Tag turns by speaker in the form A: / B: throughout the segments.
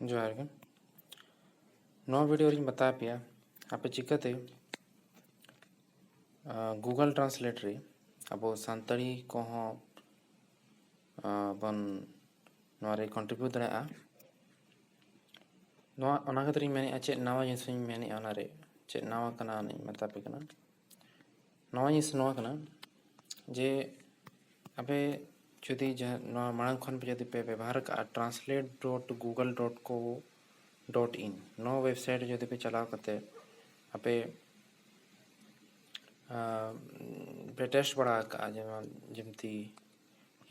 A: ᱡᱚᱦᱟᱨ ᱜᱮ ᱱᱚᱣᱟ ᱵᱷᱤᱰᱤᱭᱳ ᱨᱤᱧ ᱵᱟᱛᱟ ᱯᱮᱭᱟ ᱟᱯᱮ ᱪᱤᱠᱟᱹᱛᱮ ᱜᱩᱜᱚᱞ ᱴᱨᱟᱱᱥᱞᱮᱴ ᱨᱮ ᱟᱵᱚ ᱥᱟᱱᱛᱟᱲᱤ ᱠᱚᱦᱚᱸ ᱵᱚᱱ ᱱᱚᱣᱟ ᱨᱮ ᱠᱚᱱᱴᱨᱤᱵᱤᱭᱩᱴ ᱫᱟᱲᱮᱭᱟᱜᱼᱟ ᱱᱚᱣᱟ ᱚᱱᱟ ᱠᱷᱟᱹᱛᱤᱨᱤᱧ ᱢᱮᱱᱮᱫᱼᱟ ᱪᱮᱫ ᱱᱟᱣᱟ ᱡᱤᱱᱤᱥᱤᱧ ᱢᱮᱱᱮᱫᱼᱟ ᱚᱱᱟᱨᱮ ᱪᱮᱫ ᱱᱟᱣᱟ ᱠᱟᱱᱟ ᱚᱱᱟᱧ ᱢᱮᱛᱟ ᱯᱮ ᱠᱟᱱᱟ ᱱᱚᱣᱟ ᱡᱤᱱᱤᱥ ᱱᱚᱣᱟ ᱠᱟᱱᱟ ᱡᱮ ᱟᱯᱮ ᱡᱩᱫᱤ ᱡᱟᱦᱟᱸ ᱱᱚᱣᱟ ᱢᱟᱲᱟᱝ ᱠᱷᱚᱱ ᱯᱮ ᱡᱩᱫᱤ ᱯᱮ ᱵᱮᱵᱚᱦᱟᱨ ᱠᱟᱜᱼᱟ translate dot Google dot co dot in ᱱᱚᱣᱟ ᱳᱭᱮᱵᱽᱥᱟᱭᱤᱴ ᱡᱩᱫᱤ ᱯᱮ ᱪᱟᱞᱟᱣ ᱠᱟᱛᱮ ᱟᱯᱮ ᱯᱮ ᱴᱮᱥᱴ ᱵᱟᱲᱟ ᱠᱟᱜᱼᱟ ᱡᱮᱢᱚᱱ ᱡᱮᱢᱛᱤ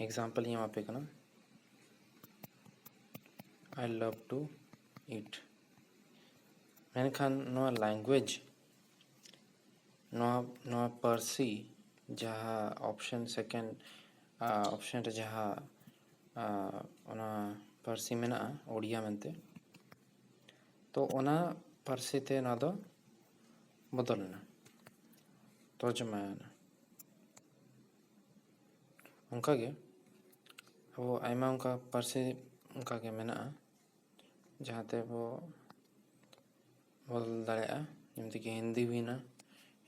A: ᱮᱠᱡᱟᱢᱯᱚᱞ ᱤᱧ ᱮᱢᱟᱯᱮ ᱠᱟᱱᱟ ᱟᱭ ᱞᱟᱵᱷ ᱴᱩ ᱤᱴ ᱢᱮᱱᱠᱷᱟᱱ ᱱᱚᱣᱟ ᱞᱮᱝᱜᱩᱭᱮᱡᱽ ᱱᱚᱣᱟ ᱱᱚᱣᱟ ᱯᱟᱹᱨᱥᱤ ᱡᱟᱦᱟᱸ ᱚᱯᱷᱥᱮᱱ ᱥᱮᱠᱮᱱᱰ ᱚᱯᱷᱥᱮᱱ ᱨᱮ ᱡᱟᱦᱟᱸ ᱚᱱᱟ ᱯᱟᱹᱨᱥᱤ ᱢᱮᱱᱟᱜᱼᱟ ᱳᱰᱤᱭᱟ ᱢᱮᱱᱛᱮ ᱛᱚ ᱚᱱᱟ ᱯᱟᱹᱨᱥᱤ ᱛᱮ ᱱᱚᱣᱟ ᱫᱚ ᱵᱚᱫᱚᱞ ᱮᱱᱟ ᱛᱚᱨᱡᱚᱢᱟᱭᱮᱱᱟ ᱚᱱᱠᱟ ᱜᱮ ᱟᱵᱚ ᱟᱭᱢᱟ ᱚᱱᱠᱟ ᱯᱟᱹᱨᱥᱤ ᱚᱱᱠᱟ ᱜᱮ ᱢᱮᱱᱟᱜᱼᱟ ᱡᱟᱦᱟᱸ ᱛᱮᱵᱚ ᱵᱚᱫᱚᱞ ᱫᱟᱲᱮᱭᱟᱜᱼᱟ ᱡᱮᱢᱛᱤ ᱠᱤ ᱦᱤᱱᱫᱤ ᱦᱩᱭᱮᱱᱟ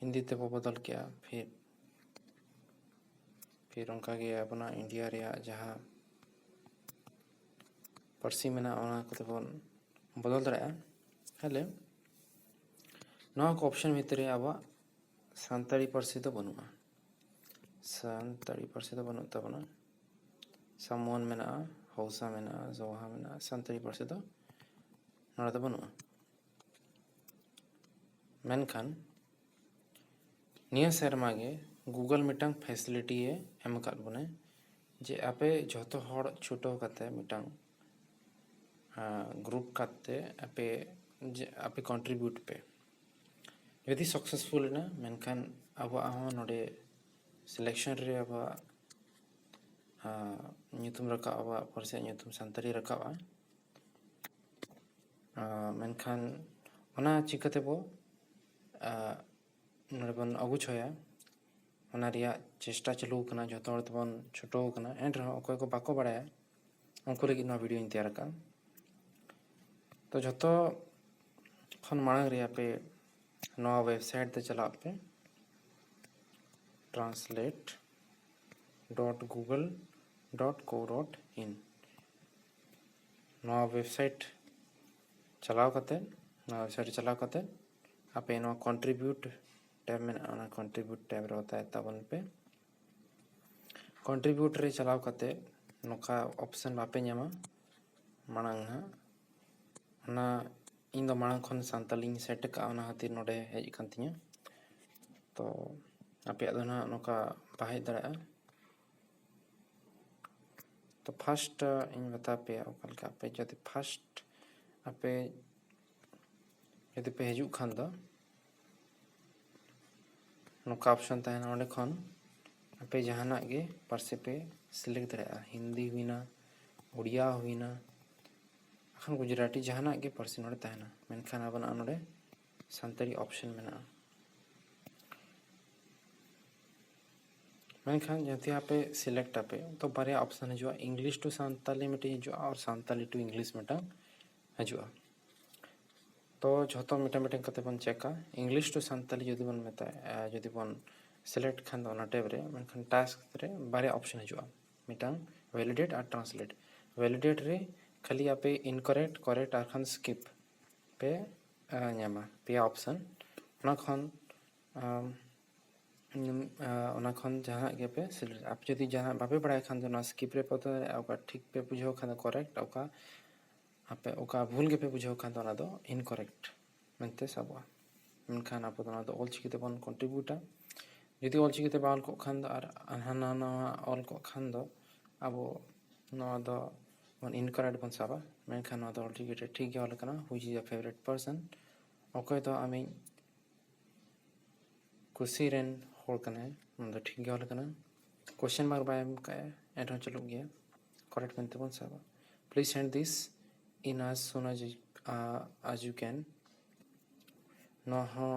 A: ᱦᱤᱱᱫᱤ ᱛᱮᱵᱚ ᱵᱚᱫᱚᱞ ᱠᱮᱜᱼᱟ ᱯᱷᱤᱨ ᱯᱷᱤᱨ ᱚᱱᱠᱟ ᱜᱮ ᱟᱵᱚᱱᱟᱜ ᱤᱱᱰᱤᱭᱟ ᱨᱮᱭᱟᱜ ᱡᱟᱦᱟᱸ ᱯᱟᱹᱨᱥᱤ ᱢᱮᱱᱟᱜᱼᱟ ᱚᱱᱟ ᱠᱚᱛᱮ ᱵᱚᱱ ᱵᱚᱫᱚᱞ ᱫᱟᱲᱮᱭᱟᱜᱼᱟ ᱛᱟᱦᱚᱞᱮ ᱱᱚᱣᱟ ᱠᱚ ᱚᱯᱷᱥᱮᱱ ᱵᱷᱤᱛᱨᱤ ᱨᱮ ᱟᱵᱚᱣᱟᱜ ᱥᱟᱱᱛᱟᱲᱤ ᱯᱟᱹᱨᱥᱤ ᱫᱚ ᱵᱟᱹᱱᱩᱜᱼᱟ ᱥᱟᱱᱛᱟᱲᱤ ᱯᱟᱹᱨᱥᱤ ᱫᱚ ᱵᱟᱹᱱᱩᱜ ᱛᱟᱵᱚᱱᱟ ᱥᱟᱢᱚᱱ ᱢᱮᱱᱟᱜᱼᱟ ᱦᱟᱣᱥᱟ ᱢᱮᱱᱟᱜᱼᱟ ᱡᱚᱦᱟ ᱢᱮᱱᱟᱜᱼᱟ ᱥᱟᱱᱛᱟᱲᱤ ᱯᱟᱹᱨᱥᱤ ᱫᱚ ᱱᱚᱰᱮ ᱫᱚ ᱵᱟᱹᱱᱩᱜᱼᱟ ᱢᱮᱱᱠᱷᱟᱱ ᱱᱤᱭᱟᱹ ᱥᱮᱨᱢᱟ ᱜᱮ ᱜᱩᱜᱚᱞ ᱢᱤᱫᱴᱟᱝ ᱯᱷᱮᱥᱤᱞᱤᱴᱤ ᱮ ᱮᱢ ᱟᱠᱟᱫ ᱵᱚᱱᱟ ᱡᱮ ᱟᱯᱮ ᱡᱷᱚᱛᱚ ᱦᱚᱲ ᱪᱷᱩᱴᱟᱹᱣ ᱠᱟᱛᱮ ᱢᱤᱫᱴᱟᱝ ᱜᱨᱩᱯ ᱠᱟᱛᱮ ᱟᱯᱮ ᱟᱯᱮ ᱠᱚᱱᱴᱨᱤᱵᱤᱭᱩᱴ ᱯᱮ ᱡᱩᱫᱤ ᱥᱟᱠᱥᱮᱥᱯᱷᱩᱞ ᱮᱱᱟ ᱢᱮᱱᱠᱷᱟᱱ ᱟᱵᱚᱣᱟᱜ ᱦᱚᱸ ᱱᱚᱰᱮ ᱥᱤᱞᱮᱠᱥᱚᱱ ᱨᱮ ᱟᱵᱚᱣᱟᱜ ᱧᱩᱛᱩᱢ ᱨᱟᱠᱟᱵᱼᱟ ᱟᱵᱚᱣᱟᱜ ᱯᱟᱹᱨᱥᱤᱭᱟᱜ ᱧᱩᱛᱩᱢ ᱥᱟᱱᱛᱟᱲᱤ ᱨᱟᱠᱟᱵᱼᱟ ᱢᱮᱱᱠᱷᱟᱱ ᱚᱱᱟ ᱪᱤᱠᱟᱹ ᱛᱮᱵᱚ ᱱᱚᱰᱮ ᱵᱚᱱ ᱚᱵᱩᱡᱷᱟᱹᱣᱟ ᱚᱱᱟ ᱨᱮᱭᱟᱜ ᱪᱮᱥᱴᱟ ᱪᱟᱹᱞᱩ ᱟᱠᱟᱱᱟ ᱡᱚᱛᱚ ᱦᱚᱲ ᱛᱮᱵᱚᱱ ᱪᱷᱩᱴᱟᱹᱣ ᱟᱠᱟᱱᱟ ᱮᱱ ᱨᱮᱦᱚᱸ ᱚᱠᱚᱭ ᱠᱚ ᱵᱟᱠᱚ ᱵᱟᱲᱟᱭᱟ ᱩᱱᱠᱩ ᱞᱟᱹᱜᱤᱫ ᱱᱚᱣᱟ ᱵᱷᱤᱰᱭᱳᱧ ᱛᱮᱭᱟᱨ ᱟᱠᱟᱫᱼᱟ ᱛᱚ ᱡᱷᱚᱛᱚ ᱠᱷᱚᱱ ᱢᱟᱲᱟᱝ ᱨᱮ ᱟᱯᱮ ᱱᱚᱣᱟ ᱣᱮᱵᱥᱟᱭᱤᱴ ᱛᱮ ᱪᱟᱞᱟᱜ ᱯᱮ translate dot Google dot co dot in ᱱᱚᱣᱟ ᱣᱮᱵᱥᱟᱭᱤᱴ ᱪᱟᱞᱟᱣ ᱠᱟᱛᱮ ᱱᱚᱣᱟ ᱣᱮᱵᱥᱟᱭᱤᱴ ᱪᱟᱞᱟᱣ ᱠᱟᱛᱮ ᱟᱯᱮ ᱱᱚᱣᱟ ᱠᱚᱱᱴᱨᱤᱵᱤᱭᱩᱴ ᱴᱮᱵ ᱢᱮᱱᱟᱜᱼᱟ ᱚᱱᱟ ᱠᱚᱱᱴᱨᱤᱵᱤᱭᱩᱴ ᱴᱮᱵ ᱨᱮ ᱚᱛᱟᱭ ᱛᱟᱵᱚᱱ ᱯᱮ ᱠᱚᱱᱴᱨᱤᱵᱤᱭᱩᱴ ᱨᱮ ᱪᱟᱞᱟᱣ ᱠᱟᱛᱮ ᱱᱚᱝᱠᱟ ᱚᱯᱥᱮᱱ ᱵᱟᱯᱮ ᱧᱟᱢᱟ ᱢᱟᱲᱟᱝ ᱦᱟᱸᱜ ᱚᱱᱟ ᱤᱧ ᱫᱚ ᱢᱟᱲᱟᱝ ᱠᱷᱚᱱ ᱥᱟᱱᱛᱟᱞᱤᱧ ᱥᱮᱴ ᱟᱠᱟᱫᱼᱟ ᱚᱱᱟ ᱠᱷᱟᱹᱛᱤᱨ ᱱᱚᱰᱮ ᱦᱮᱡ ᱟᱠᱟᱱ ᱛᱤᱧᱟᱹ ᱛᱚ ᱟᱯᱮᱭᱟᱜ ᱫᱚ ᱱᱟᱦᱟᱜ ᱱᱚᱝᱠᱟ ᱵᱟᱭ ᱦᱮᱡ ᱫᱟᱲᱮᱭᱟᱜᱼᱟ ᱛᱚ ᱯᱷᱟᱥᱴ ᱤᱧ ᱢᱮᱛᱟ ᱯᱮᱭᱟ ᱚᱠᱟ ᱞᱮᱠᱟ ᱟᱯᱮ ᱡᱩᱫᱤ ᱯᱷᱟᱥᱴ ᱟᱯᱮ ᱡᱩᱫᱤ ᱯᱮ ᱦᱤᱡᱩᱜ ᱠᱷᱟᱱ ᱫᱚ ᱱᱚᱝᱠᱟ ᱚᱯᱥᱚᱱ ᱛᱟᱦᱮᱱᱟ ᱚᱸᱰᱮ ᱠᱷᱚᱱ ᱟᱯᱮ ᱡᱟᱦᱟᱱᱟᱜ ᱜᱮ ᱯᱟᱹᱨᱥᱤ ᱯᱮ ᱥᱤᱞᱮᱠᱴ ᱫᱟᱲᱮᱭᱟᱜᱼᱟ ᱦᱤᱱᱫᱤ ᱦᱩᱭᱱᱟ ᱩᱲᱤᱭᱟ ᱦᱩᱭᱱᱟ ᱵᱟᱠᱷᱟᱱ ᱜᱩᱡᱽᱨᱟᱴᱤ ᱡᱟᱦᱟᱱᱟᱜ ᱜᱮ ᱯᱟᱹᱨᱥᱤ ᱱᱚᱸᱰᱮ ᱛᱟᱦᱮᱱᱟ ᱢᱮᱱᱠᱷᱟᱱ ᱟᱵᱚᱱᱟᱜ ᱱᱚᱸᱰᱮ ᱥᱟᱱᱛᱟᱲᱤ ᱚᱯᱷᱥᱮᱱ ᱢᱮᱱᱟᱜᱼᱟ ᱢᱮᱱᱠᱷᱟᱱ ᱡᱩᱫᱤ ᱟᱯᱮ ᱥᱤᱞᱮᱠᱴ ᱟᱯᱮ ᱛᱚ ᱵᱟᱨᱭᱟ ᱚᱯᱷᱥᱮᱱ ᱦᱤᱡᱩᱜᱼᱟ ᱤᱝᱞᱤᱥ ᱴᱩ ᱥᱟᱱᱛᱟᱲᱤ ᱢᱤᱫᱴᱤᱡ ᱦᱤᱡᱩᱜᱼᱟ ᱟᱨ ᱥᱟᱱᱛᱟᱲᱤ ᱴᱩ ᱤᱝᱞᱤᱥ ᱢᱤᱫᱴᱟᱝ ᱦᱤᱡᱩᱜᱼᱟ ᱛᱚ ᱡᱷᱚᱛᱚ ᱢᱤᱫᱴᱟᱝ ᱢᱤᱫᱴᱟᱝ ᱠᱟᱛᱮ ᱵᱚᱱ ᱪᱮᱠᱟ ᱤᱝᱞᱤᱥ ᱴᱩ ᱥᱟᱱᱛᱟᱲᱤ ᱡᱩᱫᱤ ᱵᱚᱱ ᱢᱮᱛᱟᱭᱟ ᱡᱩᱫᱤ ᱵᱚᱱ ᱥᱤᱞᱮᱠᱴ ᱠᱷᱟᱱ ᱫᱚ ᱚᱱᱟ ᱴᱮᱵᱽ ᱨᱮ ᱢᱮᱱᱠᱷᱟᱱ ᱴᱟᱥᱠ ᱨᱮ ᱵᱟᱨᱭᱟ ᱚᱯᱷᱥᱮᱱ ᱦᱤᱡᱩᱜᱼᱟ ᱢᱤᱫᱴᱟᱝ ᱵᱷᱮᱞᱤᱰᱮᱴ ᱟᱨ ᱴᱨᱟᱱᱥᱞᱮᱴ ᱵᱷᱮᱞᱤᱰᱮᱴ ᱨᱮ ᱠᱷᱟᱹᱞᱤ ᱟᱯᱮ ᱤᱱᱠᱟᱨᱮᱠᱴ ᱠᱟᱨᱮᱠᱴ ᱟᱨ ᱵᱟᱝᱠᱷᱟᱱ ᱥᱠᱤᱯ ᱯᱮ ᱧᱟᱢᱟ ᱯᱮᱭᱟ ᱚᱯᱥᱮᱱ ᱚᱱᱟ ᱠᱷᱚᱱ ᱚᱱᱟ ᱠᱷᱚᱱ ᱡᱟᱦᱟᱱᱟᱜ ᱜᱮᱯᱮ ᱥᱤᱞᱮᱠᱴ ᱟᱯᱮ ᱡᱩᱫᱤ ᱡᱟᱦᱟᱱᱟᱜ ᱵᱟᱯᱮ ᱵᱟᱲᱟᱭ ᱠᱷᱟᱱ ᱫᱚ ᱱᱚᱣᱟ ᱥᱠᱤᱯ ᱨᱮ ᱯᱚᱛᱚ ᱫᱟᱲᱮᱭᱟᱜᱼᱟ ᱚᱠᱟ ᱴᱷᱤᱠ ᱯᱮ ᱵᱩᱡᱷᱟᱹᱣ ᱠᱷᱟᱱ ᱫᱚ ᱠᱚᱨᱮᱠᱴ ᱚᱠᱟ ᱟᱯᱮ ᱚᱠᱟ ᱵᱷᱩᱞ ᱜᱮᱯᱮ ᱵᱩᱡᱷᱟᱹᱣ ᱠᱷᱟᱱ ᱫᱚ ᱚᱱᱟ ᱫᱚ ᱤᱱᱠᱚᱨᱮᱠᱴ ᱢᱮᱱᱛᱮ ᱥᱟᱵᱚᱜᱼᱟ ᱢᱮᱱᱠᱷᱟᱱ ᱟᱵᱚ ᱫᱚ ᱱᱚᱣᱟ ᱫᱚ ᱚᱞ ᱪᱤᱠᱤ ᱛᱮᱵᱚᱱ ᱠᱚᱱᱴᱨᱤᱵᱤᱭᱩᱴᱟ ᱡᱩᱫᱤ ᱚᱞ ᱪᱤᱠᱤ ᱛᱮ ᱵᱟᱝ ᱚᱞ ᱠᱚᱜ ᱠᱷᱟᱱ ᱫᱚ ᱟᱨ ᱦᱟᱱᱟ ᱱᱟᱣᱟ ᱚᱞ ᱠᱚᱜ ᱠᱷᱟᱱ ᱫᱚ ᱟᱵᱚ ᱱᱚᱣᱟ ᱫᱚ ᱵᱚᱱ ᱤᱱᱠᱚᱨᱮᱠᱴ ᱵᱚᱱ ᱥᱟᱵᱟ ᱢᱮᱱᱠᱷᱟᱱ ᱱᱚᱣᱟ ᱫᱚ ᱚᱞ ᱪᱤᱠᱤ ᱨᱮ ᱴᱷᱤᱠ ᱜᱮ ᱚᱞ ᱟᱠᱟᱱᱟ which is your favourite person ᱚᱠᱚᱭ ᱫᱚ ᱟᱢᱤᱡ ᱠᱩᱥᱤ ᱨᱮᱱ ᱦᱚᱲ ᱠᱟᱱᱟᱭ ᱱᱚᱣᱟ ᱫᱚ ᱴᱷᱤᱠ ᱜᱮ ᱚᱞ ᱟᱠᱟᱱᱟ ᱠᱚᱥᱪᱮᱱ ᱢᱟᱨᱠ ᱵᱟᱭ ᱮᱢ ᱠᱟᱜᱼᱟ ᱮᱱᱨᱮᱦᱚᱸ ᱪᱟᱹᱞᱩᱜ ᱜᱮᱭᱟ ᱠᱚᱨᱮᱠᱴ ᱢᱮᱱᱛᱮ ᱵᱚᱱ ᱥᱟᱵᱟ ᱯᱞᱤᱡᱽ ᱥᱮᱱᱰ ᱫᱤᱥ ᱤᱱ ᱟᱡᱽ ᱥᱩᱱ ᱟᱡᱽ ᱟᱡᱽ ᱭᱩ ᱠᱮᱱ ᱱᱚᱣᱟ ᱦᱚᱸ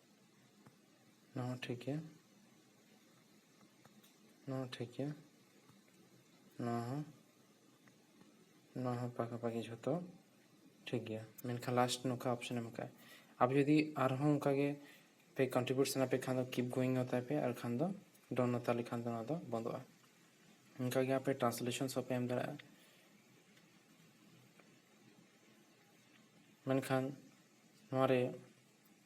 A: ᱱᱚᱣᱟ ᱦᱚᱸ ᱴᱷᱤᱠ ᱜᱮᱭᱟ ᱱᱚᱣᱟ ᱦᱚᱸ ᱴᱷᱤᱠ ᱜᱮᱭᱟ ᱱᱚᱣᱟ ᱦᱚᱸ ᱱᱚᱣᱟ ᱦᱚᱸ ᱯᱟᱠᱟᱯᱟᱠᱤ ᱡᱷᱚᱛᱚ ᱴᱷᱤᱠ ᱜᱮᱭᱟ ᱢᱮᱱᱠᱷᱟᱱ ᱞᱟᱥᱴ ᱱᱚᱝᱠᱟ ᱚᱯᱥᱮᱱ ᱮᱢ ᱠᱟᱜᱼᱟᱭ ᱟᱯᱮ ᱡᱩᱫᱤ ᱟᱨᱦᱚᱸ ᱚᱱᱠᱟ ᱜᱮ ᱯᱮ ᱠᱚᱱᱴᱨᱤᱵᱤᱭᱩᱴ ᱥᱟᱱᱟ ᱯᱮ ᱠᱷᱟᱱ ᱫᱚ ᱠᱤᱯ ᱜᱳᱭᱤᱝ ᱦᱟᱛᱟᱭ ᱯᱮ ᱟᱨ ᱠᱷᱟᱱ ᱫᱚ ᱰᱚᱱ ᱦᱟᱛᱟᱣ ᱞᱮᱠᱷᱟᱱ ᱫᱚ ᱚᱱᱟ ᱫᱚ ᱵᱚᱱᱫᱚᱜᱼᱟ ᱚᱱᱠᱟ ᱜᱮ ᱟᱯᱮ ᱴᱨᱟᱱᱥᱞᱮᱥᱚᱱ ᱦᱚᱸ ᱯᱮ ᱮᱢ ᱫᱟᱲᱮᱭᱟᱜᱼᱟ ᱢᱮᱱᱠᱷᱟᱱ ᱱᱚᱣᱟ ᱨᱮ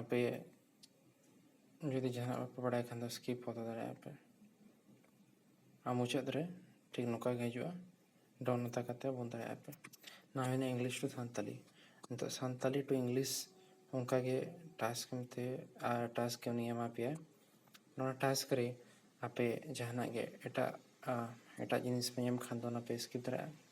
A: ᱟᱯᱮ ᱡᱩᱫᱤ ᱡᱟᱦᱟᱱᱟᱜ ᱵᱟᱯᱮ ᱵᱟᱲᱟᱭ ᱠᱷᱟᱱ ᱫᱚ ᱥᱠᱤᱯ ᱦᱚᱫᱚ ᱫᱟᱲᱮᱭᱟᱜᱼᱟ ᱯᱮ ᱟᱨ ᱢᱩᱪᱟᱹᱫ ᱨᱮ ᱴᱷᱤᱠ ᱱᱚᱝᱠᱟ ᱜᱮ ᱦᱤᱡᱩᱜᱼᱟ ᱰᱚᱱ ᱢᱮᱛᱟ ᱠᱟᱛᱮ ᱵᱚᱱ ᱫᱟᱲᱮᱭᱟᱜᱼᱟ ᱯᱮ ᱱᱚᱣᱟ ᱦᱩᱭᱱᱟ ᱤᱝᱞᱤᱥ ᱴᱩ ᱥᱟᱱᱛᱟᱞᱤ ᱱᱤᱛᱚᱜ ᱥᱟᱱᱛᱟᱞᱤ ᱴᱩ ᱤᱝᱞᱤᱥ ᱚᱱᱠᱟ ᱜᱮ ᱴᱟᱥᱠ ᱢᱮᱱᱛᱮ ᱟᱨ ᱴᱟᱥᱠ ᱩᱱᱤ ᱮᱢᱟ ᱯᱮᱭᱟ ᱱᱚᱣᱟ ᱴᱟᱥᱠ ᱨᱮ ᱟᱯᱮ ᱡᱟᱦᱟᱱᱟᱜ ᱜᱮ ᱮᱴᱟᱜ ᱮᱴᱟᱜ ᱡᱤᱱᱤᱥ ᱯᱮ ᱧᱟᱢ ᱠᱷᱟᱱ ᱫᱚ ᱚᱱᱟ ᱯᱮ ᱥᱠᱤᱯ ᱫᱟᱲᱮᱭᱟᱜᱼᱟ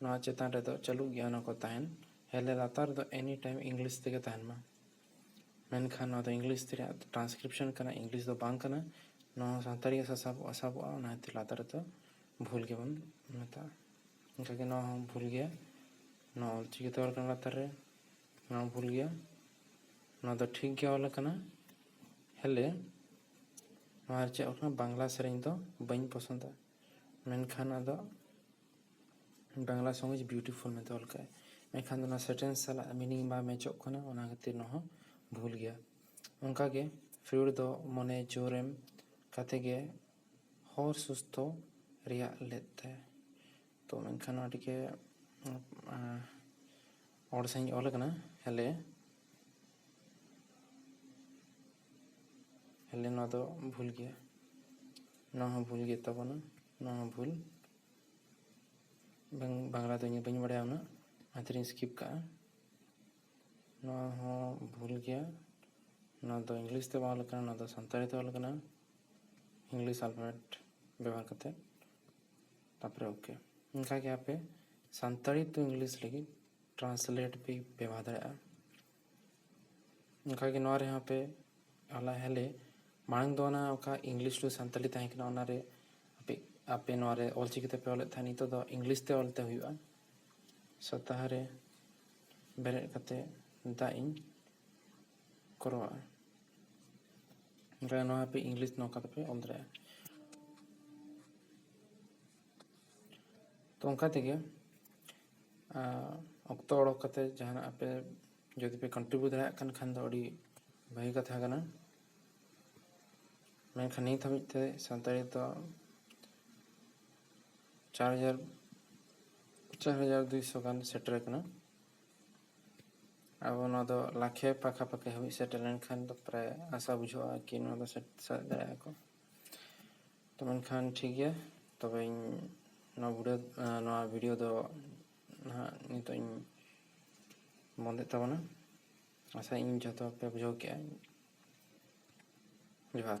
A: ᱱᱚᱣᱟ ᱪᱮᱛᱟᱱ ᱨᱮ ᱫᱚ ᱪᱟᱹᱞᱩᱜ ᱜᱮᱭᱟ ᱚᱱᱟ ᱠᱚ ᱛᱟᱦᱮᱱ ᱦᱮᱞᱮ ᱞᱟᱛᱟᱨ ᱨᱮ ᱫᱚ ᱮᱱᱤ ᱴᱟᱭᱤᱢ ᱤᱝᱞᱤᱥ ᱛᱮᱜᱮ ᱛᱟᱦᱮᱱ ᱢᱟ ᱢᱮᱱᱠᱷᱟᱱ ᱱᱚᱣᱟ ᱫᱚ ᱤᱝᱞᱤᱥ ᱛᱮ ᱨᱮᱭᱟᱜ ᱴᱨᱟᱱᱥᱠᱨᱤᱯᱥᱚᱱ ᱠᱟᱱᱟ ᱤᱝᱞᱤᱥ ᱫᱚ ᱵᱟᱝ ᱠᱟᱱᱟ ᱱᱚᱣᱟ ᱦᱚᱸ ᱥᱟᱱᱛᱟᱲᱤ ᱜᱮ ᱥᱟᱥᱟᱵᱚᱜᱼᱟ ᱥᱟᱵᱚᱜᱼᱟ ᱚᱱᱟ ᱠᱷᱟᱹᱛᱤᱨ ᱞᱟᱛᱟᱨ ᱨᱮ ᱫᱚ ᱵᱷᱩᱞ ᱜᱮᱵᱚᱱ ᱢᱮᱛᱟᱜᱼᱟ ᱚᱱᱠᱟ ᱜᱮ ᱱᱚᱣᱟ ᱦᱚᱸ ᱵᱷᱩᱞ ᱜᱮᱭᱟ ᱱᱚᱣᱟ ᱚᱞ ᱪᱤᱠᱤ ᱛᱮ ᱚᱞ ᱟᱠᱟᱱᱟ ᱞᱟᱛᱟᱨ ᱨᱮ ᱱᱚᱣᱟ ᱵᱷᱩᱞ ᱜᱮᱭᱟ ᱱᱚᱣᱟ ᱫᱚ ᱴᱷᱤᱠ ᱜᱮ ᱚᱞ ᱟᱠᱟᱱᱟ ᱦᱮᱞᱮ ᱱᱚᱣᱟ ᱨᱮ ᱪᱮᱫ ᱚᱞ ᱟᱠᱟᱱᱟ ᱵᱟᱝᱞᱟ ᱥᱮᱨᱮᱧ ᱫᱚ ᱵᱟᱹᱧ ᱯᱚᱥᱚᱸᱫᱟ ᱢᱮᱱᱠᱷᱟᱱ ᱟᱫᱚ ᱵᱟᱝᱞᱟ ᱥᱚᱝ ᱤᱡᱽ ᱵᱤᱭᱩᱴᱤᱯᱷᱩᱞ ᱢᱮᱱᱛᱮ ᱚᱞ ᱠᱟᱜᱼᱟᱭ ᱢᱮᱱᱠᱷᱟᱱ ᱫᱚ ᱱᱚᱣᱟ ᱥᱮᱱᱴᱮᱱᱥ ᱥᱟᱞᱟᱜ ᱢᱤᱱᱤᱝ ᱵᱟᱝ ᱢᱮᱪᱚᱜ ᱠᱟᱱᱟ ᱚᱱᱟ ᱠᱷᱟᱹᱛᱤᱨ ᱱᱚᱣᱟ ᱦᱚᱸ ᱵᱷᱩᱞ ᱜᱮᱭᱟ ᱚᱱᱠᱟ ᱜᱮ ᱯᱷᱤᱭᱳᱰ ᱫᱚ ᱢᱚᱱᱮ ᱡᱳᱨ ᱮᱢ ᱠᱟᱛᱮ ᱜᱮ ᱦᱚᱲ ᱥᱩᱥᱛᱷᱚ ᱨᱮᱭᱟᱜ ᱞᱮᱫ ᱛᱟᱭᱟ ᱛᱚ ᱢᱮᱱᱠᱷᱟᱱ ᱱᱚᱣᱟ ᱴᱷᱤᱠᱟᱹ ᱦᱚᱲ ᱥᱟᱹᱦᱤᱡ ᱚᱞ ᱟᱠᱟᱱᱟ ᱦᱮᱞᱮ ᱦᱮᱞᱮ ᱱᱚᱣᱟ ᱫᱚ ᱵᱷᱩᱞ ᱜᱮᱭᱟ ᱱᱚᱣᱟ ᱦᱚᱸ ᱵᱷᱩᱞ ᱜᱮ ᱛᱟᱵᱚᱱᱟ ᱱᱚᱣᱟ ᱦᱚᱸ ᱵᱷᱩᱞ ᱵᱟᱝ ᱵᱟᱝᱞᱟ ᱫᱚ ᱤᱧ ᱵᱟᱹᱧ ᱵᱟᱲᱟᱭᱟ ᱩᱱᱟᱹᱜ ᱚᱱᱟ ᱛᱮᱞᱤᱧ ᱥᱠᱤᱯ ᱠᱟᱜᱼᱟ ᱱᱚᱣᱟ ᱦᱚᱸ ᱵᱷᱩᱞ ᱜᱮᱭᱟ ᱱᱚᱣᱟ ᱫᱚ ᱤᱝᱞᱤᱥ ᱛᱮ ᱵᱟᱝ ᱚᱞ ᱠᱟᱱᱟ ᱱᱚᱣᱟ ᱫᱚ ᱥᱟᱱᱛᱟᱲᱤ ᱛᱮ ᱚᱞ ᱠᱟᱱᱟ ᱤᱝᱞᱤᱥ ᱟᱞᱯᱷᱟᱵᱮᱴ ᱵᱮᱵᱚᱦᱟᱨ ᱠᱟᱛᱮᱫ ᱛᱟᱯᱚᱨᱮ ᱳᱠᱮ ᱚᱱᱠᱟ ᱜᱮ ᱟᱯᱮ ᱥᱟᱱᱛᱟᱲᱤ ᱴᱩ ᱤᱝᱞᱤᱥ ᱞᱟᱹᱜᱤᱫ ᱴᱨᱟᱱᱥᱞᱮᱴ ᱯᱮ ᱵᱮᱵᱚᱦᱟᱨ ᱫᱟᱲᱮᱭᱟᱜᱼᱟ ᱚᱱᱠᱟ ᱜᱮ ᱱᱚᱣᱟ ᱨᱮᱦᱚᱸ ᱯᱮ ᱦᱚᱞᱟ ᱦᱟᱞᱮ ᱢᱟᱲᱟᱝ ᱫᱚ ᱚᱱᱟ ᱚᱠᱟ ᱤᱝᱞᱤᱥ ᱴᱩ ᱥᱟᱱᱛᱟᱲᱤ ᱛᱟᱦᱮᱸ ᱠᱟᱱᱟ ᱚᱱᱟ ᱨᱮ ᱟᱯᱮ ᱟᱯᱮ ᱱᱚᱣᱟ ᱨᱮ ᱚᱞ ᱪᱤᱠᱤ ᱛᱮᱯᱮ ᱚᱞᱮᱫ ᱛᱟᱦᱮᱸᱫ ᱱᱤᱛᱚᱜ ᱫᱚ ᱤᱝᱞᱤᱥ ᱛᱮ ᱚᱞ ᱛᱮ ᱦᱩᱭᱩᱜᱼᱟ ᱥᱚᱯᱛᱟ ᱦᱚᱸ ᱨᱮ ᱵᱮᱨᱮᱫ ᱠᱟᱛᱮ ᱫᱟᱜ ᱤᱧ ᱠᱚᱨᱟᱣᱟ ᱱᱚᱣᱟ ᱟᱯᱮ ᱤᱝᱞᱤᱥ ᱱᱚᱝᱠᱟ ᱛᱮᱯᱮ ᱚᱞ ᱫᱟᱲᱮᱭᱟᱜᱼᱟ ᱛᱚ ᱚᱱᱠᱟ ᱛᱮᱜᱮ ᱚᱠᱛᱚ ᱚᱰᱚᱠ ᱠᱟᱛᱮ ᱡᱟᱦᱟᱱᱟᱜ ᱟᱯᱮ ᱡᱩᱫᱤ ᱯᱮ ᱠᱚᱱᱴᱨᱤᱵᱤᱭᱩᱴ ᱫᱟᱲᱮᱭᱟᱜ ᱠᱟᱱ ᱠᱷᱟᱱ ᱫᱚ ᱟᱹᱰᱤ ᱵᱷᱟᱹᱜᱤ ᱠᱟᱛᱷᱟ ᱠᱟᱱᱟ ᱢᱮᱱᱠᱷᱟᱱ ᱱᱤᱛ ᱦᱟᱹᱵᱤᱡ ᱛᱮ ᱥᱟᱱᱛᱟᱲᱤ ᱫᱚ ᱪᱟᱨ ᱦᱟᱡᱟᱨ ᱪᱟᱨ ᱦᱟᱡᱟᱨ ᱫᱩᱭᱥᱚ ᱜᱟᱱ ᱥᱮᱴᱮᱨ ᱟᱠᱟᱱᱟ ᱟᱵᱚ ᱱᱚᱣᱟ ᱫᱚ ᱞᱟᱠᱷᱮ ᱯᱟᱠᱷᱟᱯᱟᱠᱷᱤ ᱦᱟᱹᱵᱤᱡ ᱥᱮᱴᱮᱨ ᱞᱮᱱᱠᱷᱟᱱ ᱫᱚ ᱯᱨᱟᱭ ᱟᱥᱟ ᱵᱩᱡᱷᱟᱹᱜᱼᱟ ᱠᱤ ᱱᱚᱣᱟ ᱫᱚ ᱥᱮᱴᱮᱨ ᱫᱟᱲᱮᱭᱟᱜᱼᱟ ᱠᱚ ᱛᱚ ᱢᱮᱱᱠᱷᱟᱱ ᱴᱷᱤᱠ ᱜᱮᱭᱟ ᱛᱚᱵᱮᱧ ᱱᱚᱣᱟ ᱵᱷᱤᱰᱤᱭᱳ ᱱᱚᱣᱟ ᱵᱷᱤᱰᱤᱭᱳ ᱫᱚ ᱱᱟᱦᱟᱜ ᱱᱤᱛᱚᱜ ᱤᱧ ᱵᱚᱱᱫᱮᱫ ᱛᱟᱵᱚᱱᱟ ᱟᱥᱟ ᱤᱧ ᱡᱚᱛᱚ ᱯᱮ ᱵᱩᱡᱷᱟᱹᱣ ᱠᱮᱜᱼᱟ ᱡᱚᱦᱟᱨ